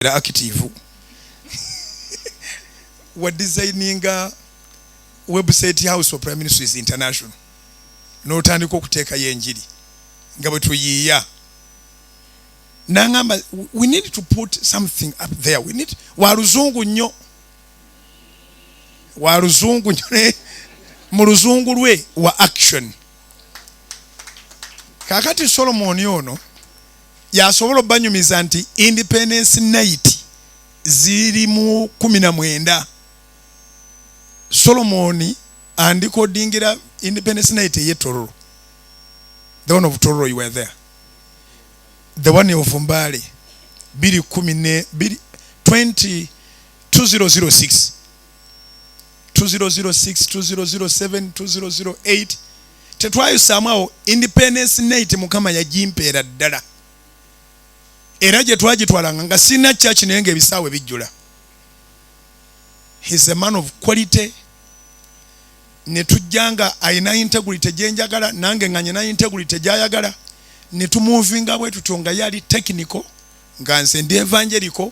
era active wa designinga website house of prime minister is international n'otandika okuteekayo enjiri nga bwe tuyiiya nangamba we need to put something up there we need wa luzungu nnyo wa luzungu nnyo mu luzungu lwe wa action kakati solomoni ono yasobola obanyumiza nti independence night ziri mu kumi na mwenda solomoni andikodingira independence night eye tororo the one of tororo you were there the one of mbale biri kumi ne biri 20 2006 2006 tetwayusaamu awo independence night mukama yagimpeera ddala era gye twagitwalanga nga sirina church naye nga ebisaawe bijjula he's a man of quality ne tujja nga alina integrity gye njagala nange nga nyina integrity gyayagala ne tumuvinga bwe tutyo nga yali technical nga nze ndi evangelical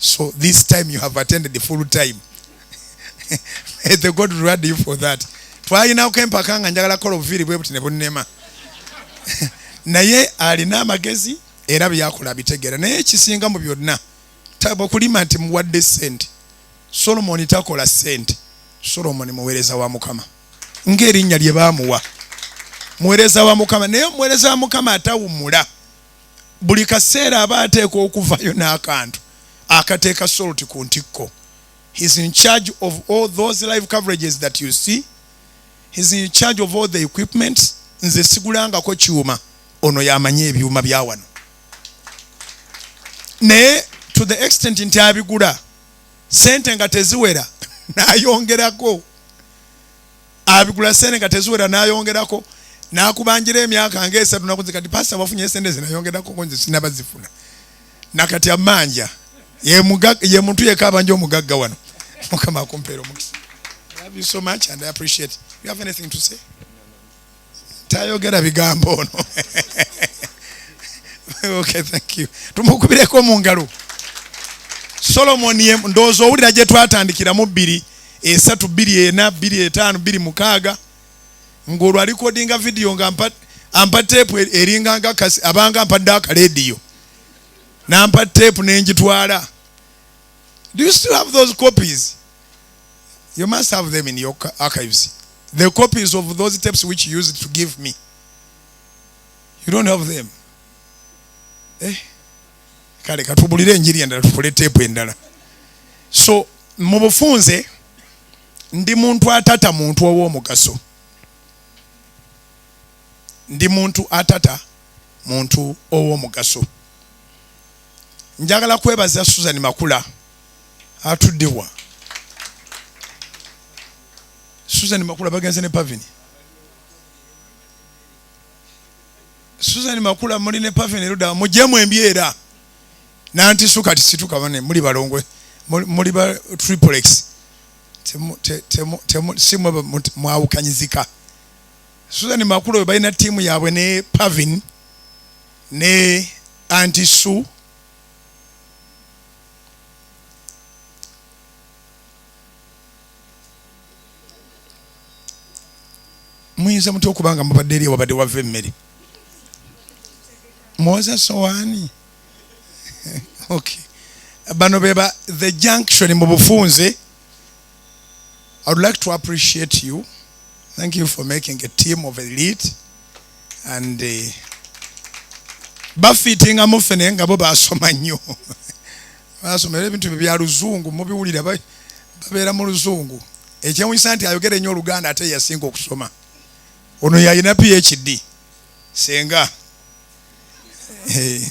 So this time you have attended the full time. May the God reward you for that. Twalinako empaka nga njagala kola obuviiri bwe buti ne bunnema. Naye alina amagezi era byakola bitegeera naye ekisinga mu byonna okulima nti muwadde ssente solomoni takola ssente solomoni muweereza wa mukama ng'erinnya lye baamuwa muweereza wa mukama naye omuweereza wa mukama atawummula buli kaseera aba ateekwa okuvayo n'akantu akateeka salt ku ntikko he's in charge of all those live coverages that you see he's in charge of all the equipments nze sigulangako kyuma ono yamanyi ebyuma bya wano naye to the extent nti abigula sente nga teziwera nayongerako abigula sente nga teziwera nayongerako nakubanjira emyaka nga esatu nakunze kati pasita wafunye esente zinayongerako konze sinabazifuna nakati amanja ye muntu yeka abanja omugagga wano mukama akumpeera omukisa love you so much and i appreciate you have anything to say tayogera bigambo ono okay, thank you tumukubireko mu ngalo solomoni ndowooza owulira gye twatandikiramu bbiri esatu bbiri ena bbiri etaano bbiri mukaaga ng'olwo alikodinga vidiyo nga ampa teepu e-, eringa nga abanga ampadde akalediyo nampa teepu nengitwala Do you still have those copies? You must have them in your archives. The copies of those tapes which you used to give me. You don't have them. Eh? Kale katubulire enjiri endala tukole tape endala. So mu bufunze ndi muntu atata muntu ow'omugaso. Ndi muntu atata muntu ow'omugaso. njagala kwebaza susan makula atuddewa susan makula bagenze ne pavini susan makula muli ne pavini eruda mujemu embyera nanti suka tisituka bane muli balongwe muli ba triplex simwe mwawukanyizika susan makula oyo balina tiimu yaabwe ne pavini ne anti su muyinza mutya okuba nga mubadde eri wabadde wava emmere mwoza sowaani okay bano beba the junction mu bufunze I would like to appreciate you. Thank you for making a team of elite and uh, bafitinga mufe naye nga bo basoma nnyo basoma era ebintu byo bya luzungu mubiwulira babeera mu luzungu ekyewunyisa nti ayogera ennyo oluganda ate yasinga okusoma ono yalina phd senga eh,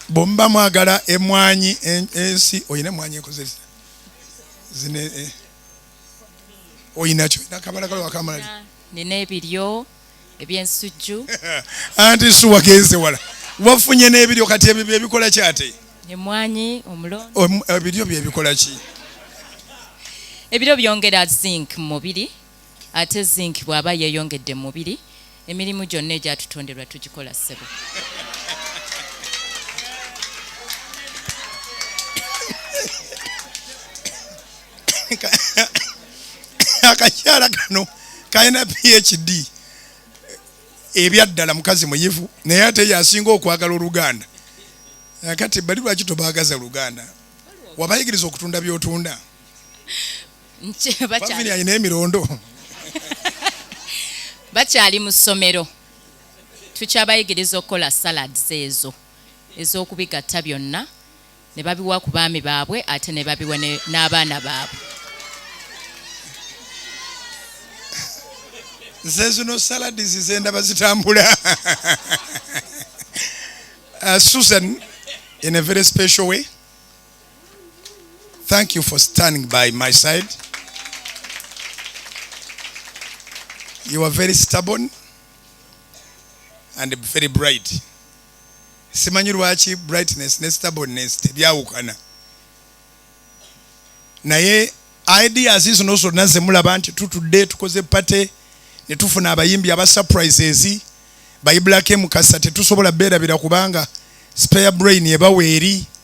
bwemuba mwagala emwanyi ensi olina emwanyi ekozesa zine eh, oyinakyo olina kabalagala wakamalali nina ebiryo ebyensujju anti suwa genze wala wafunye n'ebiryo kati ebyo byebikola ki ate emwanyi omulondo ebiryo byebikola ki ebiryo byongera zinc mu mubiri Ate zinc bwaba yeyongedde mumubiri emirimu gyonna egyatutonderwa tugikola ssebo. Akakyala kano kalina PHD ebyaddala mukazi muyivu naye ate yasinga okwagala oluganda eh, kati bali lwaki tobaagaza luganda wabayigiriza okutunda byotunda bakyali alina emirondo bakyali mu ssomero tukyabayigiriza okukola salads ezo ez'okubigatta byonna ne babiwa ku baami baabwe ate ne babiwa n'abaana baabwe nze zino salads zendaba zitambula uh, susan in a very special way Thank you for standing by my side. You are very stubborn and very bright. Simanyi lwaki brightness ne stubbornness tebyawukana. Naye ideas zino zonna ze mulaba nti tutudde tukoze pate ne tufuna abayimbi aba surprises bayibulako emukasa tetusobola beerabira kubanga spare brain ebawa eri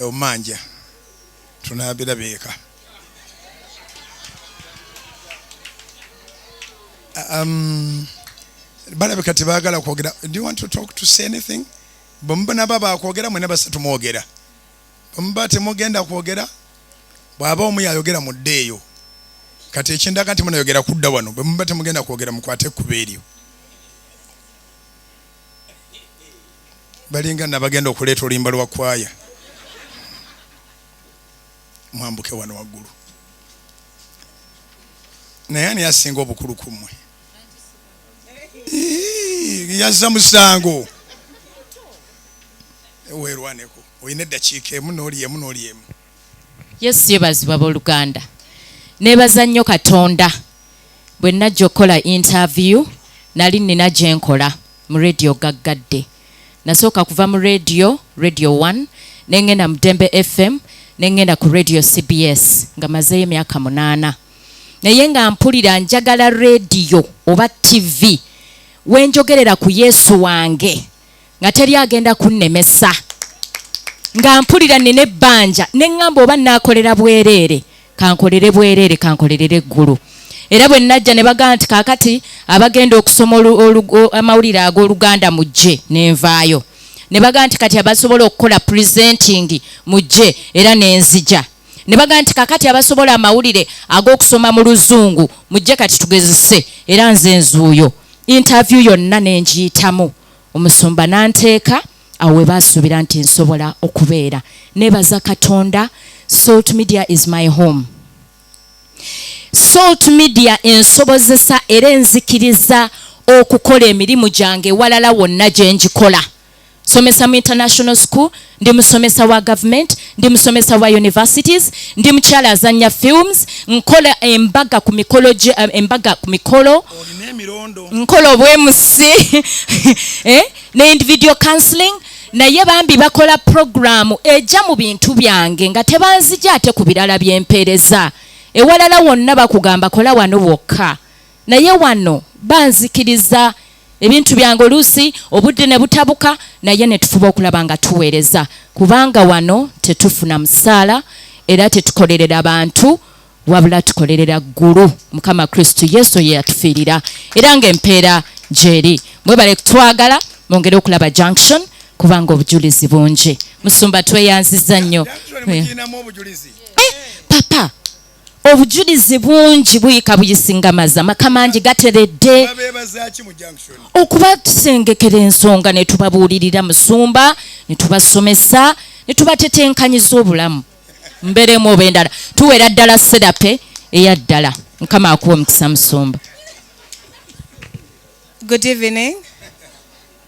omanja tunabira beeka um, balabika tebagala kwogera do you want to talk to say anything bwemuba naba bakwogera mwena basatu mwogera bwemuba temugenda kwogera bwaba omu yayogera mudde eyo kati ekindaga nti munayogera kudda wano bwemuba temugenda kwogera mukwate ekkuba eryo balinga nabagenda okuleeta oluyimba lwa kwaya mwambuke wano waggulu naye ani asinga obukulu ku mmwe yazza musango weerwaneko olina eddakiika emu n'oli emu n'oli emu Yesu yebazibwa boluganda. Nebaza nnyo Katonda bwe najja okukola interview nali nina gye nkola mu radio gaggadde. Nasooka kuva mu radio, radio one, ne ngenda mu Dembe FM, ne ngenda ku radio CBS nga mazeeyo emyaka munaana. Naye nga mpulira njagala radio oba TV we njogerera ku Yesu wange. nga teri agenda kunnemesa nga mpulira nina ebbanja ne ŋŋamba oba naakolera bwereere kankolere bwereere kankolerera eggulu era bwe najja ne bagamba nti kaakati abagenda okusoma amawulire ag'oluganda mujje nenvaayo ne bagamba nti kati abasobola okukola presenting mujje era nenzija ne bagamba nti kakati abasobola amawulire ag'okusoma mu luzungu mujje kati tugezese era nze nzuuyo interview yonna ne ngiyitamu omusumba n'anteeka awo we baasuubira nti nsobola okubeera neebaza katonda salt media is my home salt media ensobozesa era enzikiriza okukola emirimu gyange ewalala wonna gye ngikola somesa mu international school ndi musomesa wa government ndi musomesa wa universities ndi mukyala azanya films nkola embaga ku mikolo gye eh, embaga ku mikolo nkola obwemusi eh? ne individual counseling naye bambi bakola programu ejja mu bintu byange nga tebanzija ate ku birala byempeereza ewalala wonna bakugamba kola wano wokka naye wano banzikiriza ebintu byange oluusi obudde ne butabuka naye ne tufuba okulaba nga tuweereza kubanga wano tetufuna musaala era tetukolerera bantu wabula tukolerera ggulu mukama kristu yesu ye yatufiirira era ng'empeera gyeri mwebale kutwagala mwongere okulaba junction kubanga obujulizi bungi musumba tweyanziza nnyo eh, papa obujulizi bungi buyika buyisingamaza maka mangi gateredde okuba tusengekera ensonga ne tubabuulirira musumba ne tubasomesa ne tubatetenkanyiza obulamu mberemu oba endala tuwera ddala serape eya ddala mukama akuwa omukisa musumba Good evening.